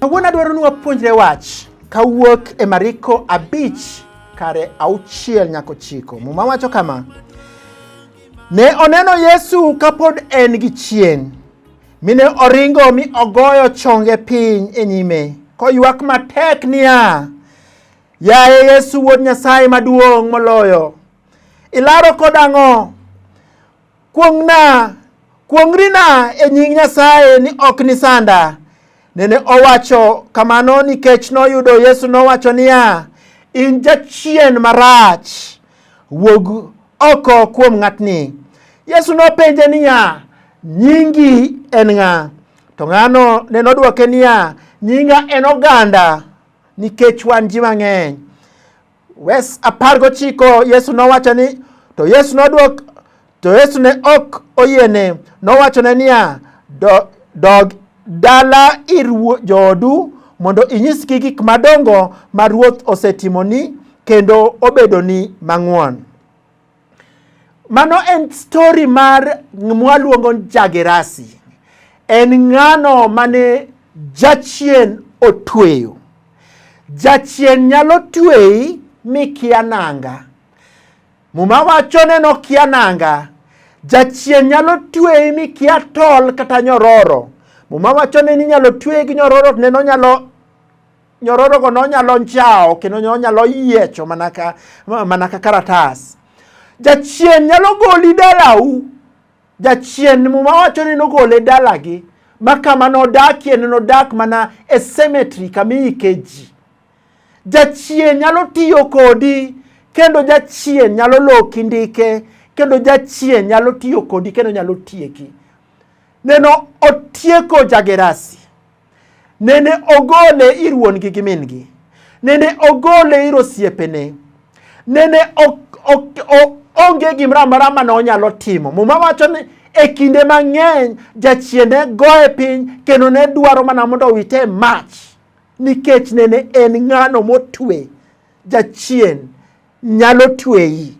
Kawuono adwaro ni wapuonjre wach kawuok e Mariko abich kare auchiel nyaka ochiko. Muma wacho kama, ne oneno Yesu kapod en gi chien, Mine oringo mi ogoyo chonge piny e nyime, koywak matek niya, Yaye Yesu Wuod Nyasaye maduong' moloyo, ilaro kod ang'o? Kuong'na, kuong'rina e nying Nyasaye ni ok nisanda. Nene owacho kamano nikech noyudo Yesu nowacho niya, in jachien marach, wuog oko kuom ng'atni. Yesu nopenje niya, nyingi en ng'a? To ng'ano ne nodwoke niya, nyinga en oganda nikech wan ji mang'eny. Wes apar gochiko Yesu nowacho ni to Yesu nodwok to Yesu ne ok oyiene nowachone niya do, dog dala ir joodu mondo inyisgi gik madongo ma Ruoth osetimoni kendo obedoni mang'won. Mano en stori mar mwaluongo Jagerasi. En ng'ano mane jachien otweyo. Jachien nyalo tweyi mikia nanga. Muma wacho ni nokia nanga. Jachien nyalo tweyi mikia tol kata nyororo. Muma wacho ni ninyalo tweyi gi nyororo to neno nyalo nyororogo nonyalo njawo kendo nonyalo yiecho mana ka mana ka karatas jachien nyalo goli dalau jachien muma wacho ni nogole dalagi ma kama nodakie ne nodak mana e cemetery kama iike ji jachien nyalo tiyo kodi kendo jachien nyalo loki ndike kendo jachien nyalo tiyo kodi kendo nyalo tieki neno otieko jagerasi Nende ogole ir wuon-gi gi min-gi. Nende ogole ir osiepene. Nende onge gimoro amora ma ne onyalo timo. Muma wacho ni e kinde mang'eny jachien ne goye piny kendo ne dwaro mana mondo owite e mach nikech nene en ng'ano motwe. Jachien nyalo tweyi.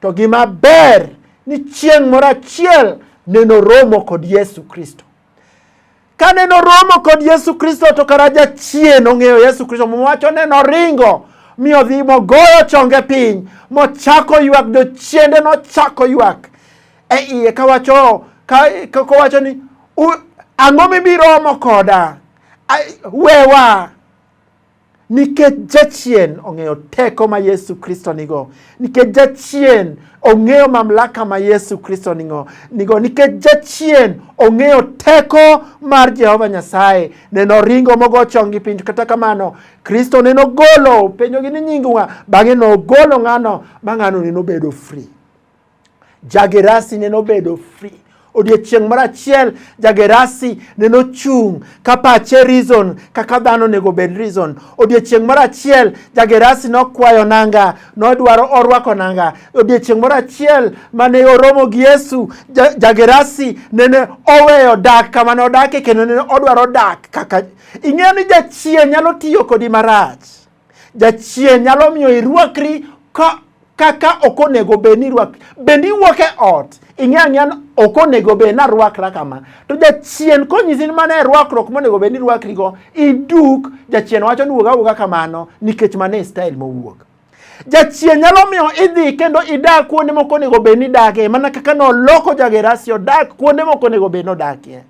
To gima ber ni chieng' moro achiel neno romo kod Yesu Kristo. Kane noromo kod Yesu Kristo to kara jachien ong'eyo Yesu Kristo mowacho ne noringo mi odhi mogoyo chonge piny mochako ywak jochiende nochako ywak e iye kawacho kowacho ni ang'o mibiromo koda wewa Nikech jachien ong'eyo teko ma Yesu Kristo nigo, nikech jachien ong'eyo mamlaka ma Yesu Kristo nigo, nigo nikech jachien ong'eyo teko mar Jehova Nyasaye. Ne noringo mogo chongi piny, kata kamano Kristo ne nogolo penjogi ni nyingu ng'a, bang'e nogolo ng'ano ma ng'ano ne nobedo free. Jagerasi ne nobedo free odiechieng' moro achiel jagerasi ne nochung' ka pache reason kaka dhano onego bed reason odiechieng' moro achiel jagerasi nokwayo nanga nodwaro orwako nanga odiechieng' moro achiel mane oromo gi yesu jagerasi nene oweyo dak kama nodake kendo nene odwaro dak kaka ing'eyo ni jachien nyalo tiyo kodi marach Jachien nyalo miyo irwakri ka kaka ok onego bed ni irwak bende iwuok e ot ing'e ang'eya ni ok onego bed ni arwakra kama to jachien konyisi ni mano e rwakruok monego bed ni irwakrigo iduk jachien wacho ni wuog awuoga kamano nikech mano e style mowuok jachien nyalo miyo idhi kendo idak kuonde moko onego bed ni idakie mana kaka noloko jagerasi odak kuonde moko onego bed ni odakie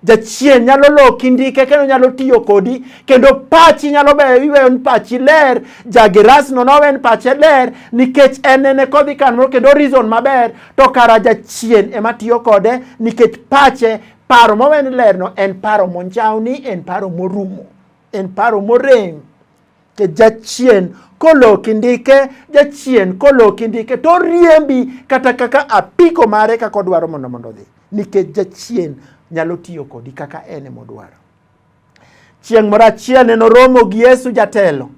jachien nyalo loki ndike kendo nyalo tiyo kodi kendo pachi nyalo beyo iweyo ni pachi ler jagerasno nowe ni pache ler nikech en nene kodhi kanmoro kendo reason maber to kara jachien ema tiyo kode nikech pache paro mowe ni lerno en paro monjawni en paro morumo en paro morem ke jachien koloki ndike jachien koloki ndike to riembi kata kaka apiko mare kaka odwaro mondo mondo odhi nikech jachien nyalo tiyo kodi kaka en emodwaro chieng' moro achiel ne noromo gi yesu jatelo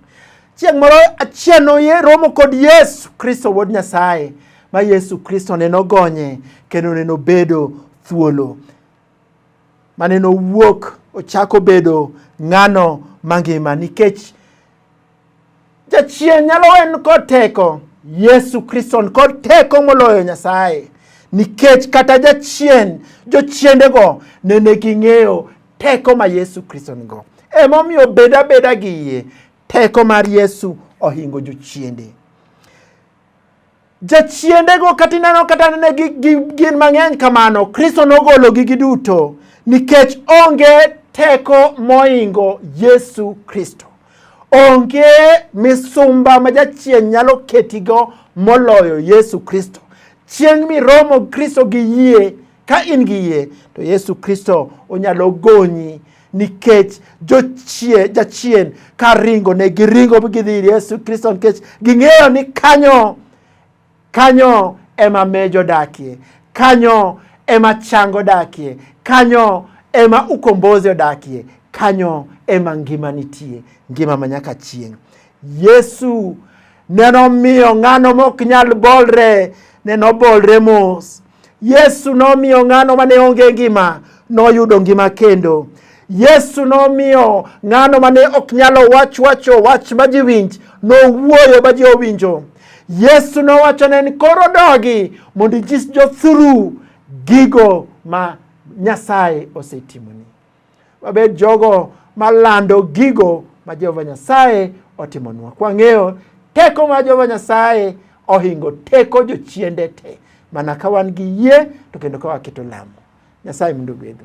chieng' moro achiel noromo kod yesu kristo wuod nyasaye ma yesu kristo ne nogonye kendo ne nobedo thuolo mane nowuok ochako bedo ng'ano mangima nikech jachien nyalo en kod teko yesu kristo kod teko moloyo nyasaye nikech kata jachien jochiendego nene ging'eyo teko ma yesu kristo nigo emomiyo beda beda gi yie teko mar yesu ohingo jochiende Jachiendego kata ineno kata nene gin mang'eny kamano, Kristo nogologi giduto nikech onge teko moingo Yesu Kristo. Onge misumba ma jachien nyalo ketigo moloyo Yesu Kristo. Chieng' miromo Kristo gi yie Ka in gi yie to Yesu Kristo onyalo gonyi nikech jochie jachien ka ringo ne giringo gidhi ir Yesu Kristo nikech ging'eyo ni kanyo kanyo ema mejo dakie kanyo ema chango dakie kanyo ema ukombozi odakie kanyo ema ngima nitie ngima ma nyaka chieng' Yesu neno miyo ng'ano mok nyal bolre neno bolre mos Yesu nomiyo ng'ano mane onge ngima noyudo ngima kendo. Yesu nomiyo ng'ano mane ok nyalo wach wacho wach ma ji winj nowuoyo ma ji owinjo. Yesu nowacho ne ni koro dogi mondo inyis jothuru gigo ma Nyasaye osetimoni. wabed jogo malando gigo ma Jehova Nyasaye otimonwa. Kwang'eyo teko ma Jehova Nyasaye ohingo teko jochiende te mana ka wan gi yie to kendo ka waketo lamo. Nyasaye mondo ogwedhu.